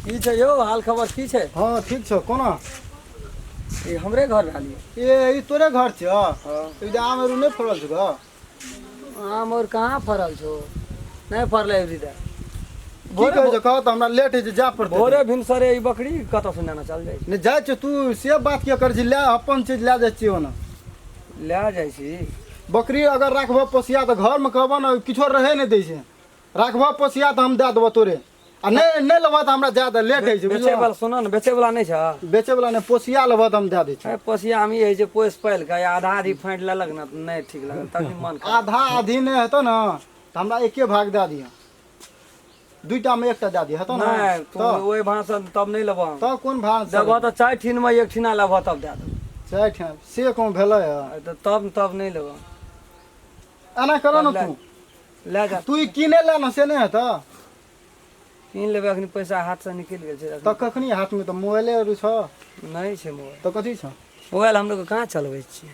की छै यौ हाल खबर की छै हँ ठीक छौ कोना ई हमरे घर रहल यऽ ए ई तोरे घर छियौ ई जे आम अरू नहि फड़ल छौ गऽ आम और कहाँ फड़ल छौ नहि फड़लै अभी तक की भोरे कहै छौ कहऽ तऽ हमरा लेट होइ छै जाय पड़तै भोरे भिनसरे ई बकरी कतऽ से नेना चल जाइ छै नहि जाइ छौ तू से बात किया करै छी लए अपन चीज लए जाइ छियै ओना लए जाइ छी बकरी अगर राखबह पोसिया तऽ घरमे कहबह ने किछो रहै नहि दै छै राखबह पोसिया तऽ हम दए देबह तोरे आ नहि नहि लेबह तऽ हमरा जाए दे लेट होइ छै बेचे वाला सुन ने बेचे वाला नहि छ बेचे वाला नहि पोसिया लेबह तऽ हम दए दै छी पोसिया हम ई होइ छै पोस पालि कऽ आधा आधी फाँटि लेलक ने नहि ठीक लगल तखन मन आधा आधी नहि हेतौ ने तऽ हमरा एके भाग दए दिअ दुईटा में एकटा दे दिए हेतो ना नहीं तू तो वही भाषण तब नहीं लेबो हम तो कोन भान से देबो तो चार ठीन में एक ठीना लेबो तब दे देबो चाहे ठे से कोन भेले है अरे तो तब तब नहीं लेबो एना करो ना ले- तू ले जा तू ई किने ले ना से नहीं हेतो कीन लेबे अखनी पैसा हाथ से निकल गेल छै तो कखनी हाथ में तो मोबाइले आरू छ नहीं छै मोबाइल तो कथी छ मोबाइल हम लोग कहाँ चलबै छियै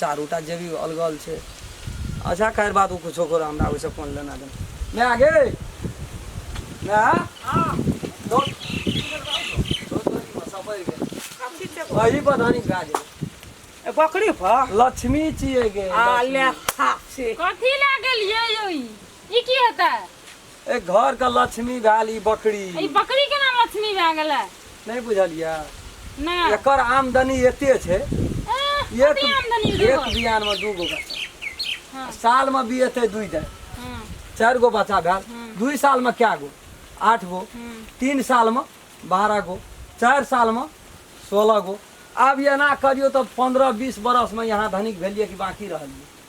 चारू टा जेबी अलगल छै अच्छा खैर बात ओ किछो करो हमरा ओहिसँ कोन लेना देना माय गे माय दो अही पर धानी भए गेलै ए, बकरी पर लक्ष्मी छियै गे आ लक्ष्मी। ले खा से कथी लए गेलियै यौ ई ई की हेतै ए घर के लक्ष्मी भेल ई बकरी ई बकरी केना लक्ष्मी भए गेलै नहीं बुझलिया ना एकर आमदनी एते छै एह, एक कते आमदनी एक देबो? बियान में दू गो बच्चा हाँ। साल में भी एते दुई दे हाँ, चार गो बच्चा भेल हम्म। दुई साल में क्या गो आठ गो हम्म। तीन साल में बारह गो चार साल में सोलह गो आब एना करियो तो पंद्रह बीस बरस में यहाँ धनिक भेलिए कि बाकी रहलिए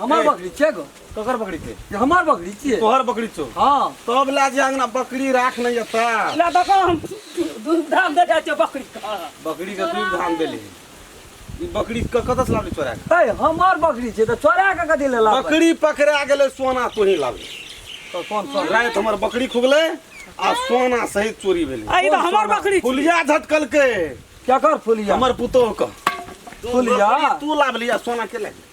हमर ए। बकरी छियै गो ककर बकरी छै जे हमर बकरी छियै तोहर बकरी छौ हँ तब ला जे अंगना बकरी राख नहीं एता ला देखो हम दूध धाम दे जाइ छियै बकरी का बकरी के दूध धाम देली ई बकरी क कतस लाबली चोरा के ए हमर बकरी छियै तऽ चोरा के कथी ले लाबै बकरी पकड़ा गेलै सोना तोही लाबली तऽ कोन सोना राति हमर बकरी खुगलै आ सोना सहित चोरी भेलै आ ई तऽ हमर बकरी छियै। फुलिया झटकलकै केकर फुलिया हमर पुतोह के फुलिया तू लाबली आ सोना के लाबली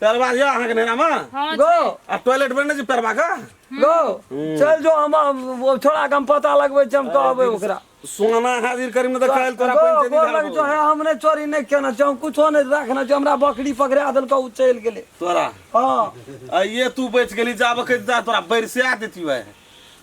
पैरवा यऽ अहाँके नैनामे हँ गो आ टॉयलेट बने छै पैरवा का गो चल जो हम हम- ओ छोड़ा के हम पता लगबै छी हम कहबै ओकरा सोना हाजिर करी में तो गो काल तोरा पंचायती गो घर लग जो बोलबो। है हम नहीं चोरी नहीं केना छै हम कुछो नहीं रखना छै हमरा बकरी पकड़ा देलकै उ चल गेलै तोरा हाँ आइए तू बच गेली जाबे के जा तोरा बरसिया देती है